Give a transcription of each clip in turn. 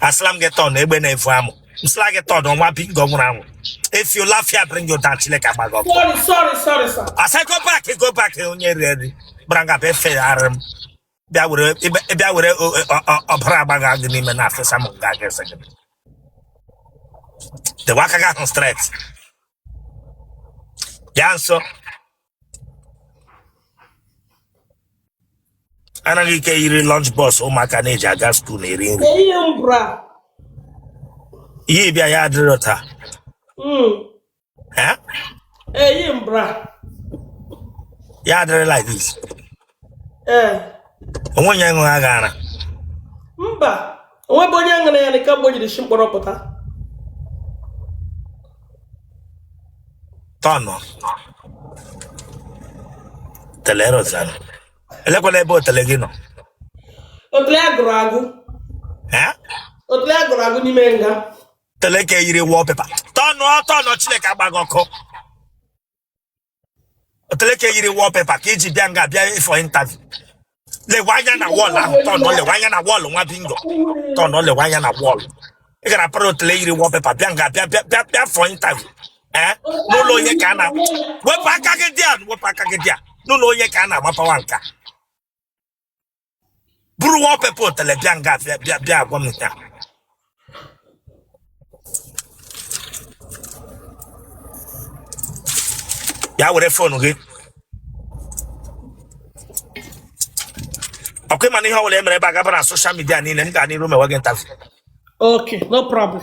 asịla m gị turn egbe na-efu amụ m sịla gị turn nwa bingo nwụrụ anwụ if you laugh here bring your down chineke agba gị ọkụ asị go back go back onye eriri eri gbara nga bịa efe arị m bịa were ọbara agba gị agụ n'ime na afesa m nga gị ese gị dewe aka gị ahụ straight bịa nso ara gị ke yiri lunch box ụmụaka na-eji aga school eri nri i yi bra ya adịrị otu a hmm. i yi bra ya adịrị like this ee o nwe onye ṅụrụ gị ara mba o nwebe onye ṅụrụ ya kemgbe o jiri shi mkpọrọ pụta tọnụ otele rozanụ elekwana ebe otele gị nọ otele a gụrụ agụ ee otele a gụrụ agụ n'ime nga otele ke yiri wallpaper tọnụ tọnụ chineke agba gị ọkụ otele ke yiri wallpaper ka i ji bịa nga bịa for interview lewe anya na wall ahụ tọnụ lewe anya na wall nwa bingo tọnụ lewe anya na wall ị gara para otele yiri wallpaper bịa nga bịa for interview ee n'ụlọ onye ka a na wepụ aka gị there wepụ aka gị there n'ụlọ onye ka a na-agbapawa nka buru wallpaper otele bịa nga bịa agwa m nke a ya were phone gị ọkwa ị ma na ihe ọbụla e mere ebe a ga-aba na social media niile m gaa n'iru mewe gị interview Okay, no problem.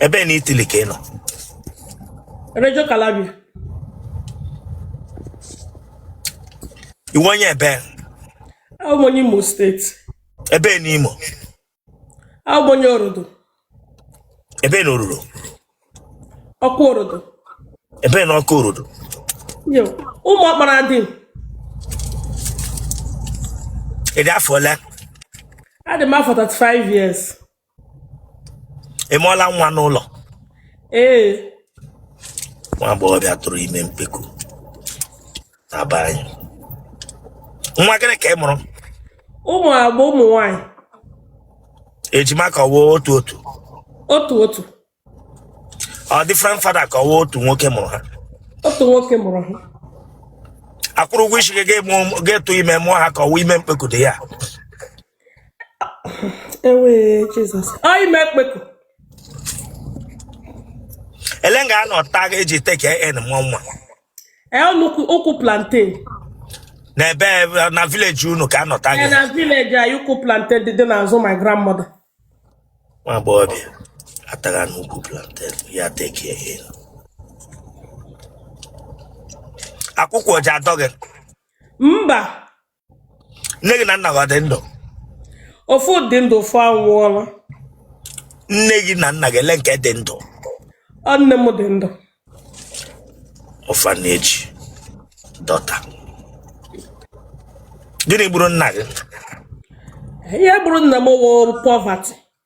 ebee na Italy ka ị nọ Reggio Calabria. ị wụ onye ebee Abụ m onye Imo State. ebee na Imo Abụ m onye Orodo. ebee na Orodo Okwu Orodo ebee na Okwu Orodo Yo, Ụmụọkparadịm ị dị afọ ole adị m afọ 35 years ị mụọla nwa n'ụlọ ee nwa agbọghọbịa tụrụ ime mkpeku abara anyị nwa gịnị ka ị mụrụ ụmụ abụọ ụmụ nwanyị ejima ka ọwụ otu otu otu otu ọ different father ka ọwụ otu nwoke mụrụ ha otu nwoke mụrụ ha akwụrụ ụgwọ isi gị ga-etu ime mụọ ha ka ọwụ ime mkpeku dị ya ewu Jesus ọ ime mkpeku ele nga anọ taa gị eji take in mụọ nwa Ee, n'ukwu plantain n'ebe eh, na village unu ka anọ taa gị na village anyị ukwu plantain dị dị n'azụ my grandmother nwa agbọghọbịa atagha n'ukwu plantain ya take in akwụkwụ ọ ji adọ gị mba nne gị na nna gị ọ dị ndụ ofu dị ndụ ofu anwụọla nne gị na nna gị ele nke dị ndụ ọ nne m dị ndụ orphanage daughter gịnị gburu nna gị ihe gburu nna m wụ poverty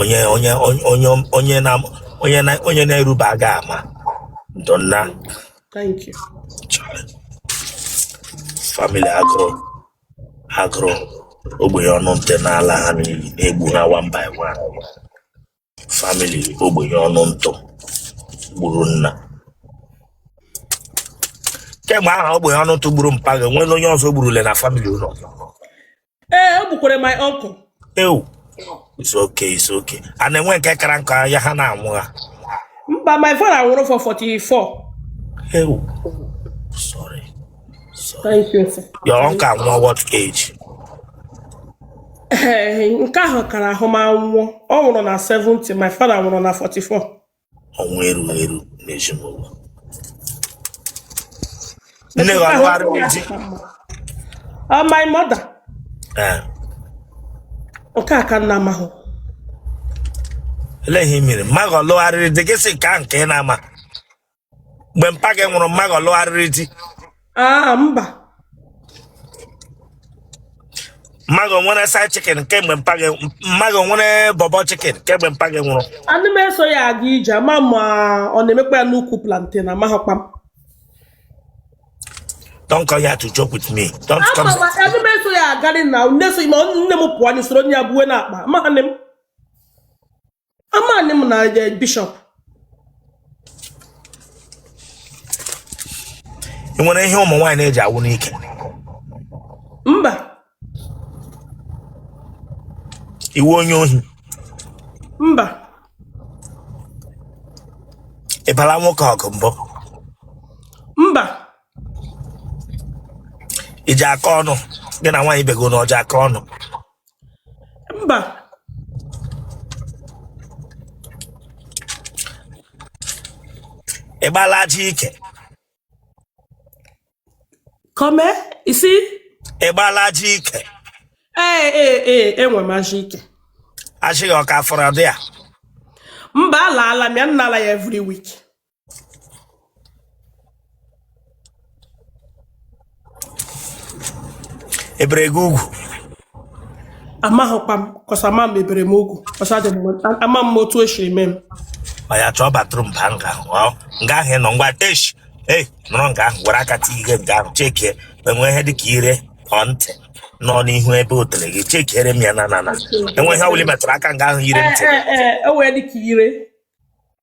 onye onye onye onye onye na onye na onye na-eruba aga ama ndo nna Thank you. family agụrụ agụrụ ogbenye ọnụ ntụ na-ala ha n'iyi na-egbu ha one by one family ogbenye ọnụ ntụ gburu nna kemgbe ahụ ogbenye ọnụ ntụ gburu mpa gị nwere onye ọzọ o gburule na family ụlọ ee o gbukwere my uncle ewu it's okay it's okay a na-enwe nke kara nka ya ha na-anwụ ha mba my father nwụrụ for 44 ewu sorry sorry thank you sir. your uncle anwụọ what age Ee, nke ahụ kara ahụ ma nwụọ ọ nwụrụ na 70 my father nwụrụ na 44 ọnwụ erughị eru n'ezinụlọ nne gị ọlụgharịrị di ọ my mother ee nke a ka m na-amahụ olee ihe mere mma gị ọlụgharịrị di gị sị ka nke ị na-ama mgbe mpa gị nwụrụ mma gị ọlụgharịrị di aa mba mma gị nwere side chicken kemgbe mpa gị mma gị nwere bọbọ chicken kemgbe mpa gị nwụrụ ana m eso ya aga ije ama ma ọ na-emekwa ya n'ukwu plantain amaghịkwa m don't come here to joke with me don't ama come ma ana m eso ya agarị na nne so ma nne m pụọ anyị soro ya buwe n'akpa amaghị m amaghị m na eh, bishop ị nwere ihe ụmụ nwaanyị na-eji awụ n'ike mba ị wụ onye ohi mba ị bala nwoke ọgụ mbụ mba i ji aka ọnụ gị na nwaanyị ibe gị na ọja aka ọnụ mba ị gbala ajị ike kọme isi ị gbala ajị ike ee ee ee enwe m ajị ike ajị gị ọ ka fọrọ there mba alaala m ya m na-ala ya every week e bere gị ugwu amaghịkwa m ka e si ama ma e bere m ugwu ka o si adị m ama m otu o siri mee m oya chọọ bathroom baa nga ahụ ọ nga ahụ ị nọ ngwa esh ei nọrọ nga ahụ were aka tii ihe nga ahụ chekie e nwe ihe dịka ire ọ ntị nọ n'ihu ebe otele gị chekiere m ya na na na e nwe ihe ọbụla ị metụrụ aka nga ahụ ire ntị ee ee e nwe dị ka ire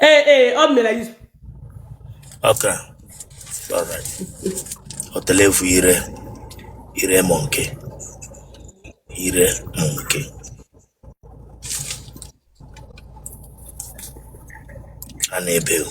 Ee, ee, ọ mere anyị. Okay. All right. Otele vu ire ire monkey ire monkey. A na-ebe o.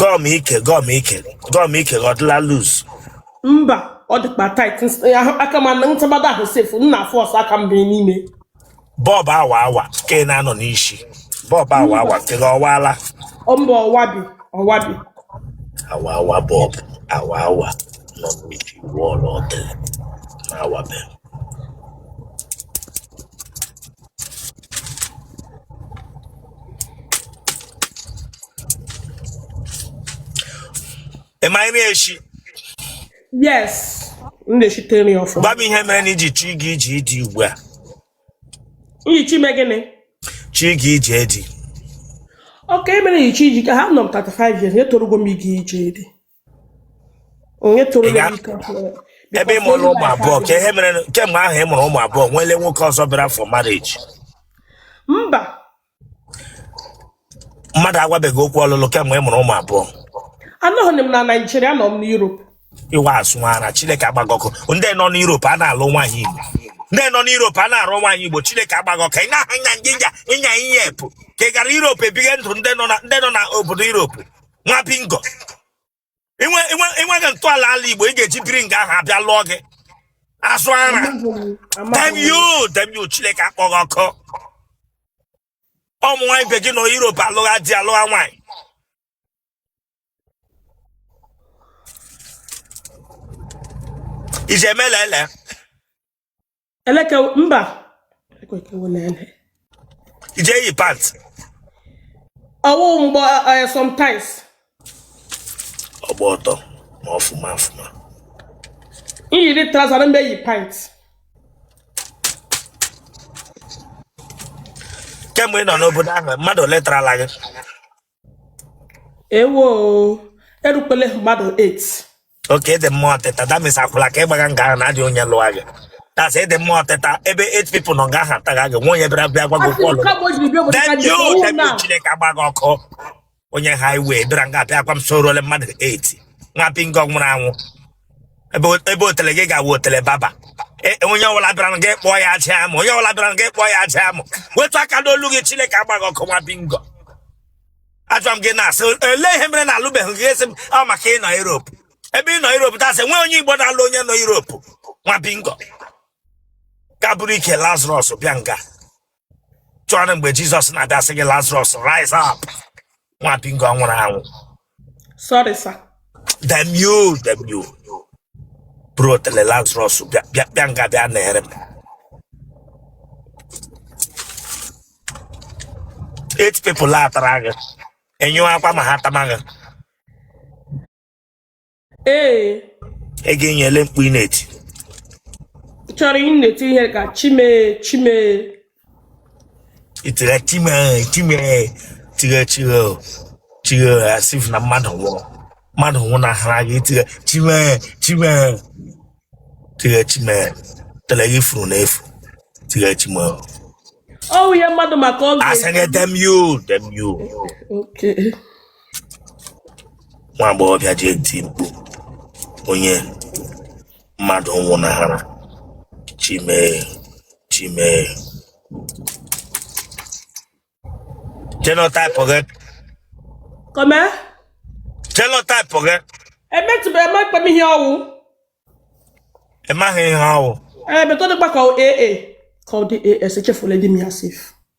gọm ike gọm ike gọm ike gị ọ dịla loose mba ọ dịkwa tight aka m na ntabada ahụ sef m na-a force aka m bee n'ime bọb awa awa nke na-anọ n'isi bọb awa awa nke gị ọ waala ọ mba ọ wabi ọ wabi awa awa bọb awa awa nọ n'uju wọọlụ otele na-awabe Am I near she? Yes. Ndeshi tell me off. Gwa m ihe mere na iji chi gị iji di ugbu a. Iji chi mee gịnị? Chi gị iji di. Okay mere iji chi iji ka ha nọ m 35 years etorugo m iji iji di. onye toro m ike ebe ị mụrụ ụmụ abụọ ka ihe mere kemgbe ahụ ị mụrụ ụmụ abụọ o nwele nwoke ọzọ bịara for marriage mba mmadụ agwabeghị gị okwu ọlụlụ kemgbe ị mụrụ ụmụ abụọ anọghị m na Nigeria nọ m na Europe iwe asụ ara chineke agba gị ọkụ ndị nọ n'Europe a na-alụ nwaanyị igbo ndị nọ n'Europe a na-arụ nwaanyị igbo chineke agba gị ọkụ ị na-aha nya ngịnya ịnya ihe epụ ka ị gara Europe ebighị ndụ ndị nọ na ndị nọ na obodo Europe nwa bingo ị nweghị ntọala ala igbo ị ga-eji biri nga ahụ abịa lụọ gị azụ ara damn you damn you chineke akpọ gị ọkụ ụmụ nwaanyị be gị nọ Europe alụgha di alụgha nwaanyị ije melele eleke mba ị je eyi pant ọwụ mgbe eh, sometimes ọgba ọtọ ma ọfụma ọfụma i yiri trouser na mgbe yi pant kemgbe ị nọ n'obodo ahụ mmadụ ole tarala gị ewo erukwele mmadụ 8 okay ị dị mma ọtịta that means akwụla ka ị gbaga nga ahụ na adị onye lụwa gị that's ị dị mma ọtịta ebe 8 people nọ nga ahụ atagha gị nwa onye bịara bịa gwa gị okwu ọlụ damn you damn you chineke agba gị ọkụ onye highway bịara nga abịa gwa m sị o ruole mmadụ 8 nwa bingo nwụrụ anwụ ebe o- ebe otele gị ga-awụ otele baba E- e, onye ọbụla bịara nga ị kpọọ ya aja amụ onye ọbụla bịara nga ị kpọọ ya aja amụ wetu aka n'olu gị chineke agba gị ọkụ nwa bingo ajụwa m gị na-asị olee ihe mere na alụbeghị gị ị sị m ọ maka ị nọ Europe ebe ị nọ Europe tasị nwee onye Igbo na-alụ onye nọ Europe nwa bingo gaa buru ike Lazarus bịa nga chọrọ mgbe jizọs na-abịa sị gị lazarus rise up nwa bingo nwụrụ anwụ sorry sir damn you damn you buru otele lazarus bịa nga bịa na-ere m eight people tara gị enyụọ akwa ma ha tama gị ee ị ga-enye ele mkpu ị na-eti chọrọ ị na-eti ihe ka chi m ee chi m ee i tire chi m e chi m e tire chire o chire o as if na mmadụ nwụrụ mmadụ nwụnahara gị i tire chi m e chi m e tire chi m e otele gị furu na efu tire chi m e o ọwụ ihe mmadụ maka oge asịrị damn you damn you okay nwa agbọghọbịa ji eti mkpu onye mmadụ nwụnahara chi m ee chi m ee genotype gị comment, genotype gị emetụbeghị m ekpe m ihe ọwụ. ị maghị ihe ọwụ Ee, better dịkwa ka AA. Ka ọ dị AS, echefula di m ya sef.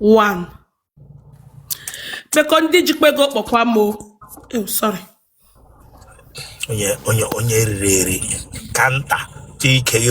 one because ndị jikwa ego kpọkwa m o Ew, sorry onye onye onye riri eri ka nta chi ike gị